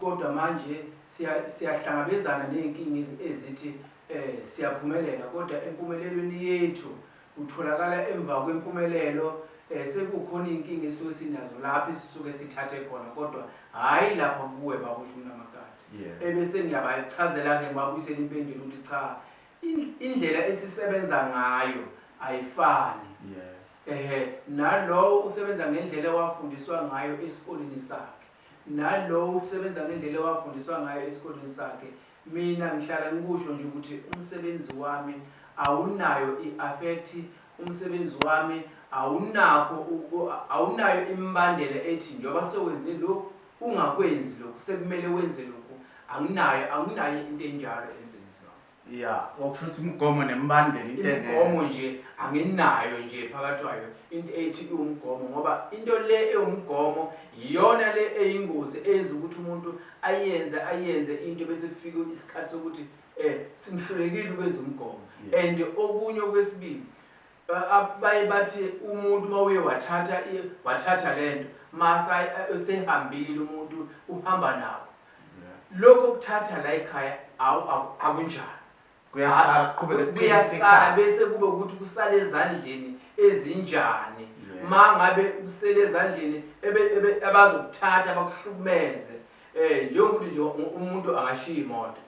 Kodwa manje siya, siyahlangabezana nezinkinga ezithi eh, siyaphumelela, kodwa empumelelweni yethu kutholakala emva kwempumelelo eh, sekukhona iy'nkinga esuke sinazo lapho esisuke sithathe khona kodwa hhayi lapha kuwe babusho umnamakade yeah. ebese ngiyabayichazela-ke ngibabuyisela impendulo ukuthi cha indlela esisebenza ngayo ayifani yeah. ehe nalowo usebenza ngendlela ewafundiswa ngayo esikoleni sakhe nalowo usebenza ngendlela ewafundiswa ngayo esikoleni sakhe mina ngihlala ngikusho nje ukuthi umsebenzi wami awunayo i-affect umsebenzi wami awunakho awunayo imbandela ethi njengoba sewenze lokhu ungakwenzi lokhu sekumele wenze lokhu anginayo anginayo into enjalo emsebenzini wami ya okusho ukuthi umgomo nembandela into engekho. imigomo nje anginayo nje phakathi kwayo into ethi iwumgomo ngoba into le ewumgomo yiyona le eyingozi eyenza ukuthi umuntu ayenze ayenze into bese kufike isikhathi sokuthi um simhlulekile ukwenza umgomo Yeah. and okunye okwesibili Baye bathi umuntu uma uye wathatha wathatha le nto masa usehambile umuntu uhamba nawo lokho kuthatha la ekhaya akunjalo kuyasala bese kube ukuthi kusale ezandleni ezinjani ma ngabe usele ezandleni abazokuthatha bakuhlukumeze um njengokuthi nje umuntu angashiya imoto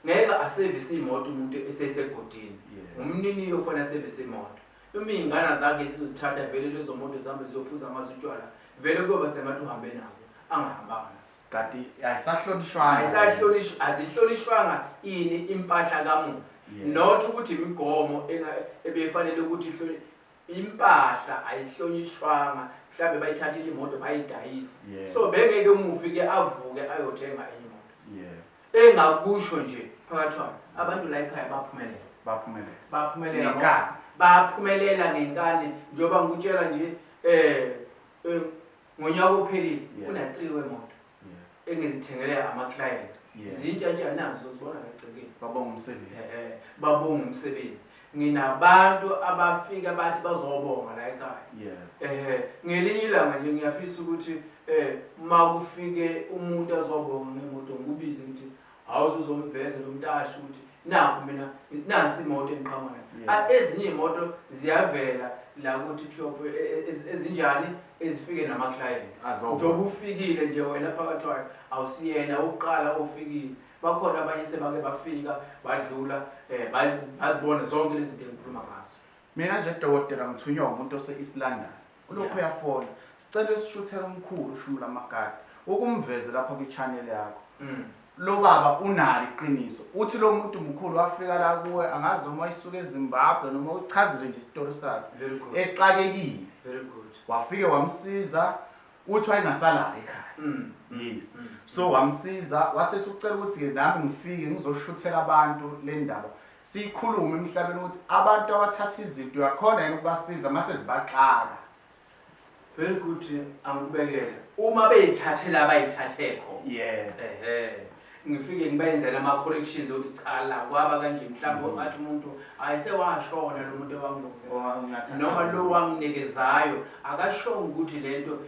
ngeke asevise imoto umuntu esesegodini ngumnini yofana asevise imoto uma iy'ngana zakhe zizozithatha vele lezo moto zihambe ziyophuza ngazo utshwala vele kuyoba sengathi uhambe nazo angahambanga nazo kanti ayisahlonishwanga azihlonishwanga ini impahla kamufi not ukuthi imigomo ebefanele ukuthi impahla ayihlonishwanga mhlawumbe bayithathile imoto bayidayisa yeah. so bengeke umufi ke avuke ayothenga enye imoto yeah. engakusho nje phakathi wabo abantu la ekhaya baphumelela baphumelela baphumelela ngenkani baphumelela ngenkani njengoba ngikutshela nje eh, eh ngonyaka ophelile kuna 3 wemoto engizithengele ama client zintsha nje anazo zibona ngegcekeni babonga umsebenzi eh babonga umsebenzi nginabantu abafika bathi bazobonga la ekhaya yeah eh ngelinye ilanga nje ngiyafisa ukuthi eh makufike umuntu azobonga ngemoto ngibize ngithi Hawu uzomveza lo mtashi ukuthi nakho mina nansi imoto engiqhamuka nayo. Yeah. A- Ezinye imoto ziyavela la ku TikTok e- e- ez- ezinjani ezifike nama client. Azoba. Njengoba ufikile nje wena phakathi wayo awusiyena uqala ofikile. Bakhona abanye sebake bafika badlula eh ba- bazibona zonke lezi zinto engikhuluma ngazo. Mina nje dokotela ngithunywa umuntu ose-East London. Ulokhu uyafona. Sicela usishuthele umkhulu uShumulo Amakati. Ukumveze lapha kwi channel yakho. Mm. Lo baba unalo iqiniso. Uthi lo muntu mkhulu wafika la kuwe angazi noma wayisuka eZimbabwe noma uchazile nje isitori sakhe. Very good. Exakekile. Very good. Wafike wamsiza uthi wayengasala ekhaya. Mm. Yes. Mm. So wamsiza wasethi ucela ukuthi ke nami ngifike ngizoshuthela abantu le ndaba. siyikhulume emhlabeni ukuthi abantu abathatha izinto uyakhona yini ukubasiza uma sezibaxaka very good angikubekele uma beyithathela abayithathe khona yeah ehe ngifike ngibenzele ama-corrections okuthi cha la kwaba kanje mhlawumbe mm-hmm. athi umuntu hayi sewashona lo muntu ewanginoma lo wanginikezayo akashonga ukuthi le nto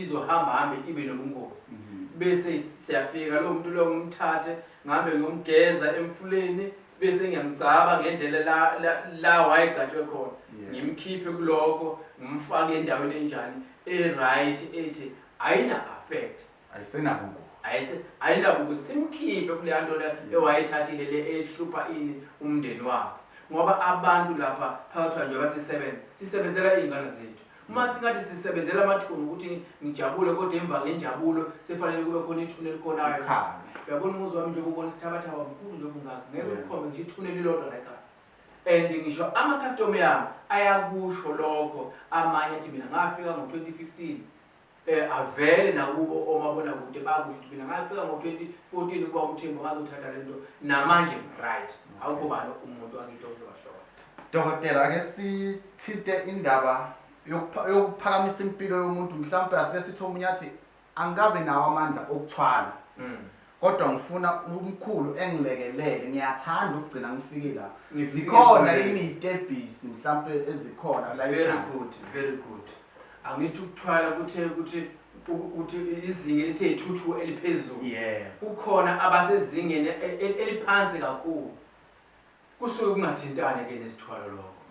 izohamba hambe ibe nobungozi mm-hmm. bese siyafika lowo muntu lowo ngimthathe Ngihambe ngiyomgeza emfuleni bese ngiyamgcaba ngendlela la la, la wayegcatshwe khona Yeah. ngimkhiphe kulokho ngimfake endaweni enjani e-right ethi ayina affect Ayisenakuku. ayise ayinakuthi simkhiphe kuleya nto le ewayethathile le ehlupha ini umndeni wakhe ngoba abantu lapha phakathi kwanje basisebenza sisebenzela iy'ngane zethu uma singathi sisebenzela amathuna ukuthi ngijabule kodwa emva ngenjabulo sefanele kube khona ithuna elikhonayo uyabona umuzi wami njengoba ubona isithabathaba mkhulu njengoba ungakho ngeke ulikhombe ngisho ithuna elilodwa leka and ngisho amakhastoma yami ayakusho lokho amanye athi mina ngafika ngo-2015 eh, avele nakubo omabonakude bakusho ukuthi mina ngafika ngo-2014 ukuba umthembu ngazothatha le nto namanje right awukho bani umuntu angithi okuzoshona dokotela ake sithinte indaba yokuphakamisa impilo yomuntu mhlawumpe asike sithi omunye athi angikabi nawo amandla okuthwala mm. Kodwa ngifuna umkhulu engilekelele ngiyathanda ukugcina ngifike la. Zikhona yini itebhisi mhlampe ezikhona la Very good, very good. Angithi ukuthwala kuthe ukuthi ukuthi izinga elithe ithuthu eliphezulu. Yeah. Kukhona abasezingeni e, e, eliphansi kakhulu. Kusuke kungathintane ke nesithwalo lokho.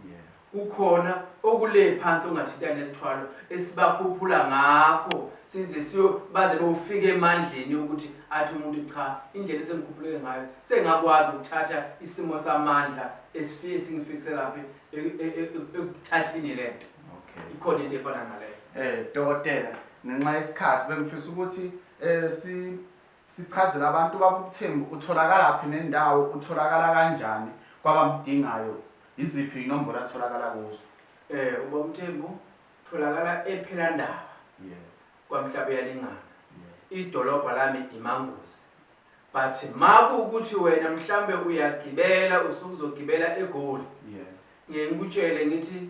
Kukhona okule phansi ongathintane nesithwalo esibakhuphula ngakho size siyo baze bofika emandleni ukuthi athi umuntu cha indlela esengikhuphuleke ngayo sengakwazi ukuthatha isimo samandla esifike singifikise laphi e, e, e, ekuthathini lento. Okay. Ikhona into efana naleyo. Eh dokotela ngenxa yesikhathi bengifisa ukuthi eh si Sichazele abantu baba ubuthembu utholakalaphi nendawo utholakala kanjani kwabamdingayo yiziphi inombolo atholakala kuzo. Eh ubaba uMthembu tholakala ePhelandaba yeah. kwaMhlape yalingana yeah. idolobha lami iManguzi but maku ukuthi wena mhlambe uyagibela usukuzogibela eGoli yeah. ngikutshele ngithi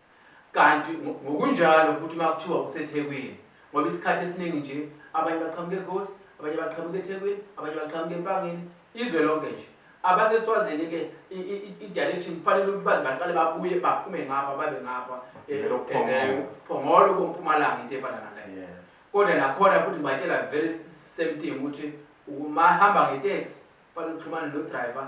Kanti ngokunjalo futhi uma kuthiwa kuseThekwini, ngoba isikhathi esiningi nje abanye baqhamuka eGoli, abanye baqhamuka eThekwini, abanye baqhamuka eMpangeni, izwe lonke nje. AbaseSwazini-ke i-direction kufanele ukuthi baze baqale babuye baphume ngapha babe ngapha eh, eh, Phongolo kompumalanga into efana naleyo. Kodwa nakhona futhi ngibatshela very same thing ukuthi umahamba ngeteksi kufanele uxhumane nodriver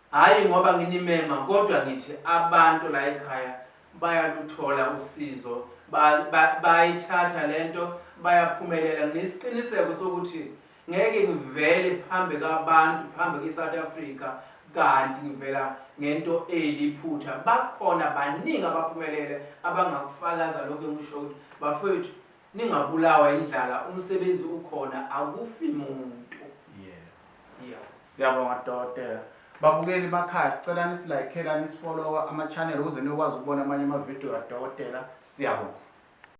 Hhayi ngoba nginimema kodwa ngithi abantu la ekhaya bayaluthola usizo, bayayithatha le nto, bayaphumelela. Nginesiqiniseko sokuthi ngeke ngivele phambi kwabantu, phambi kwi-South Africa kanti ngivela ngento eliphutha. Bakhona baningi abaphumelele abangakufakaza lokhu engikushoyo ukuthi bafowethu Ningabulawa indlala umsebenzi ukhona akufi muntu. Yeah. Yeah. Siyabonga dokotela. Babukeli bakhaya sicela nisilayikhela nisifollowa ama channel ukuze niyokwazi ukubona amanye ama video kadokotela. Siyabonga.